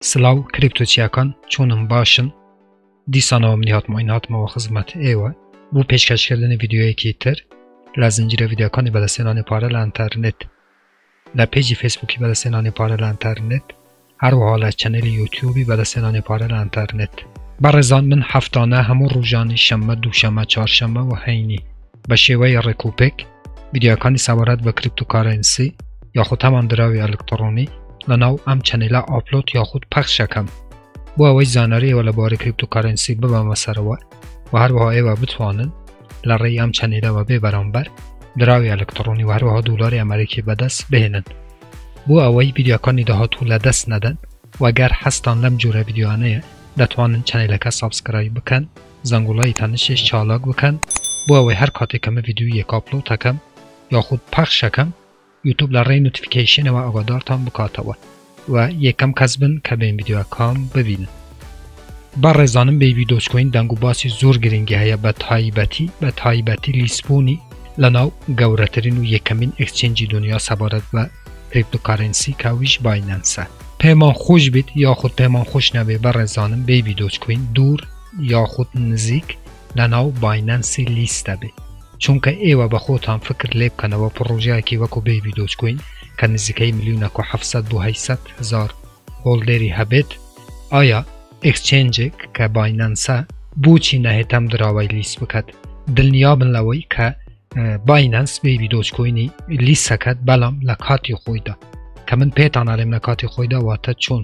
سلاو کریپتۆ چیاکان چۆنن باشن دیسانەوە منی هاتمەوە این هاتمەوە خزمەت ئێوە بۆ پێشکەشکردنی ڤیددیوەیەکی تر لە زنجیرە ڤیددیوەکانی بەدەستێنانی پارە لە ئەتەرنێت لە پێجی فەیسبووکی بەدەستێنانی پارە لە ئەتەرنێت هەروەها لە چەنەلی یوتیوبی بەدەستێنانی پارە لە ئەتەرنێت بەڕێزان من هەفتانە هەموو ڕوژانی شەممە دووشەمە چارشەمە و هەینی بە شێوەی ڕێک و پێک ویددیوەکانی سەبارەت بە کریپتوکارەنسی یاخود هەمان دراوی ئەلکتڕۆنی لە ناو ئەم چەنەیلا ئاپلۆت یاخود پەخشەکەم بۆ ئەوەی زاناریەوە لە بارەی کریپتوکارەنسی ببەمە سەرەوە و هەروەها ئێوە بتوانن لە ڕێی ئەم چەنەیلەوە بێ بەرامبەر دراوی ئەلکتڕۆنی وهروەها دولاری ئەمریکی بەدەست بهێنن بۆ ئەوەی ویددیوەکانی داهاتوو لە دەست نەدەن وەگەر حەستان لەم جۆرە ویددیوانەیە دەتوانن چەنەیلەکە سابسکرای بکەن زەنگوڵەی تەنشیش چالاک بکەن بۆ ئەوەی هەر کاتێک کە من ڤیدیۆیەک ئاپلۆد ئەکەم یاخود پەخش ئەکەم یوتوب لە ڕێی نۆتیفیکەیشنەوە ئاگادارتان بکاتەوە و یەکەم کەس بن کە بێن ڤیدیۆکام ببینن. بەڕێزانم بەیبی دۆجکۆین دەنگ و باسی زۆر گرنگی هەیە بە تایبەتی بە تایبەتی لیسبوونی لەناو گەورەترین و یەکەمین ئێکسچێنجی دونیا سەبارەت بە کریپتۆکارێنسی کە ئەویش باینەنسە. پێمان خۆش بیت یاخود پێمان خۆش نەبێ بەڕێزانم بەیبی دۆجکۆین دوور یاخود نزیک لەناو باینەنسی لیستە بێ چونکە ئێوە بەخۆتان فکر لێبکەنەوە پڕۆژەیەکی وەکو بەیبی دۆجکۆین کە نزیکەی ملیونەک و حەفت سەد بۆ هەشت سەد هەزار هۆڵدێری هەبێت ئایا ئێکسچێنجێک کە باینەنسە بۆچی نەهێت ئەم دراوەی لیست بکات دڵنیابن لەوەی کە باینەنس بەیبی دۆجکۆینی لیسەکەت بەڵام لە کاتی خۆیدا کە من پێتان ئەڵێم لە کاتی خۆیدا واتە چۆن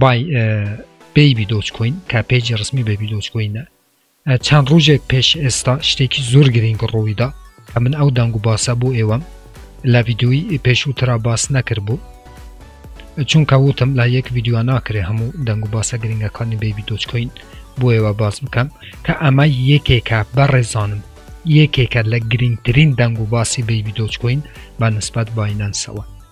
بای بەیبی دۆچ کۆین کە پێجی ڕسمی بەبی دۆچ کۆینە چەند ڕۆژێک پێش ئێستا شتێکی زۆر گرنگ ڕوویدا کە من ئەو دەنگ و باسە بۆ ئێوەم لە ویددیوی پێشووترا باس نەکرد بوو چونکە وتم لە یەک ویددیو ناکرێ هەموو دەنگ و باسە گرنگەکانی بەبی دۆچ کۆین بۆ ئێوە باس بکەم کە ئەمە یەکێکە بە ڕێزانم یەکێکە لە گرنگترین دەنگ و باسی بەبی دۆچ کۆین بە نسبەت باینەنسەوە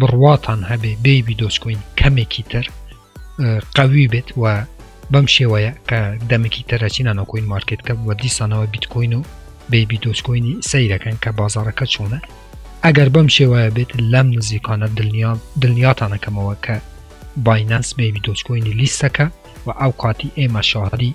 بڕواتان هەبێ بەیبی دۆچکۆین کەمێکی تر قوی بێت و بەم شێوەیە کە دەمێکی تەرەچینە نۆکۆین مارکت کە بە دیسانەوە بیتکۆین و بەیبی دۆچکۆینی سەیرەکەن کە بازارەکە چۆنە ئەگەر بەم شێوەیە بێت لەم نزیکانە دڵنیام دڵنیاتانەکەمەوە کە باینەنس بەیبی دۆچکۆینی لیستەکە و ئەو کاتی ئێمە شاهدی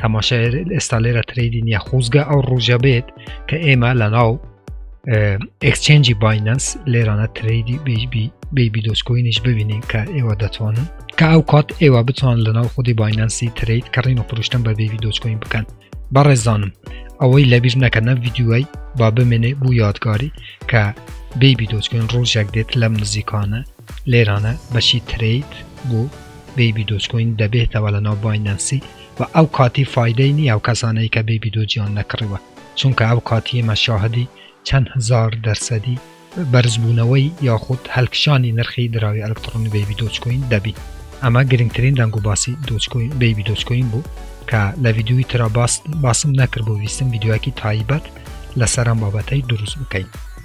تەماشای ئێستا لێرە تریدی نیە خوزگە ئەو ڕوژە بێت کە ئێمە لە ناو ئەکسچێنجی باینەنس لێرانە تریدی بیبی دۆسکۆینیش ببینین کە ئێوە دەتوانن کە ئەو کات ئێوە بتوان لە ناو خودی باینەنسی تریت کڕین و پرشتن بە بیبی دۆسکۆین بکەن بەڕێزانم ئەوەی لەبییر نەکە نە یددیوای با بمێنێ بوو یادگاری کە بیبی دۆچکن ڕۆژێک دێت لەم نزیکانە لێرانە بەشی تریت بۆ بیبی دۆچکۆین دەبێتەوە لە ناو باینەنسی و ئەو کاتی فایدەی نیە ئەو کەسانەی کە بێ بیدۆجیان نەکڕیوە چونکە ئەو کاتی ئێمە شاهدی چەند هەزار دەرسەدی بەرزبوونەوەی یاخود هەلکشانی نرخی دراوی ئەلکتڕۆنی بەیبی دۆجکۆین دەبین ئەمە گرنگترین دەنگ و باسی دۆجکۆین بەیبی دۆجکۆین بوو کە لە ڤیدیۆی ترا باس باسم نەکرد بۆ ویستم ڤیدیۆیەکی تایبەت لەسەر ئەم بابەتەی دروست بکەین.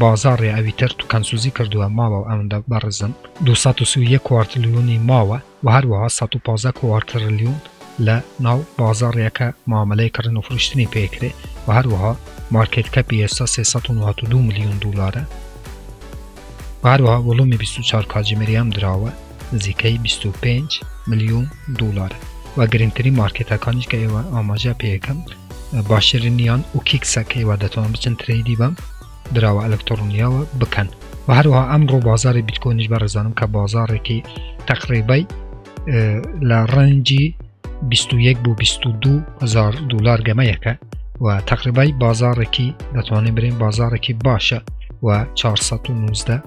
بازاڕی ئەویتر کەمسوزی کردووە ماوە ئەوەندە بەڕێزن دوو سەد و سی و یەک کوارتلیۆنی ماوە و هەروەها سەد و پازدە کوارترلیۆن لە ناو بازاڕیەکە مامەلەی کڕین و فرۆشتنی پێ کرێ و هەروەها مارکێت کەپی ئێستا سێ سەد و نۆهەت و دوو ملیۆن دولارە و هەروەها وڵومی بیست و چوار کاجیمەری ئەم دراوە نزیکەی بیست و پێنج ملیۆن دۆڵارە و گرنگترین مارکێتەکانیش کە ئێوە ئاماژە پێیەکەم باشترینیان و کیکسە کە ئێوە دەتوان بچن ترەیدی بەم دراوە ئەلکترۆنیاوە بکەن و هەروەها ئەم ڕۆ بازاری بیتکۆنیش بەڕێزانم کە بازارێکی تەقریبای لە ڕەنجی 21 بۆ 22 هزار دلار گەمەیەکە و تەقریبای بازارێکی دەتوانین برێن بازارێکی باشە و 419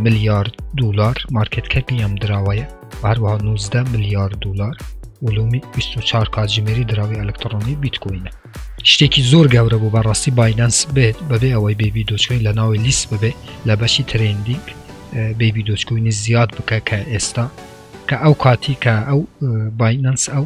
ملیارد دلار مارکت کەپی ئەم دراوەیە هەروە 19 ملیارد دلار ولومی 24 کاتژمێری دراوی ئەلکترۆنی بیتکوینە شتێکی زۆر گەورە بوو بەڕاستی باینەنس بێت بەبێ ئەوەی بێبی دۆچکۆین لە ناوی لیست ببێ لە بەشی ترندینگ بێبی دۆچکوینی زیاد بکە کە ئێستا کە ئەو کاتی کە ئەو باینەنس ئەو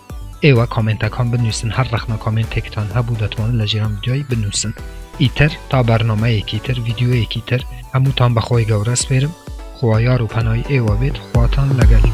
ئێوە کۆمێنتەکان بنووسن هەر ڕەخنە کۆمێنتێکتان هەبوو دەتوانن لە جێران ڤیدیۆی بنووسن ئیتر تا بەرنمەیەکی تر ڤیددیوەیەکی تر هەمووتان بەخۆی گەورە سپێرم خوایار و پەنای ئێوە بێت خواتان لەگەلی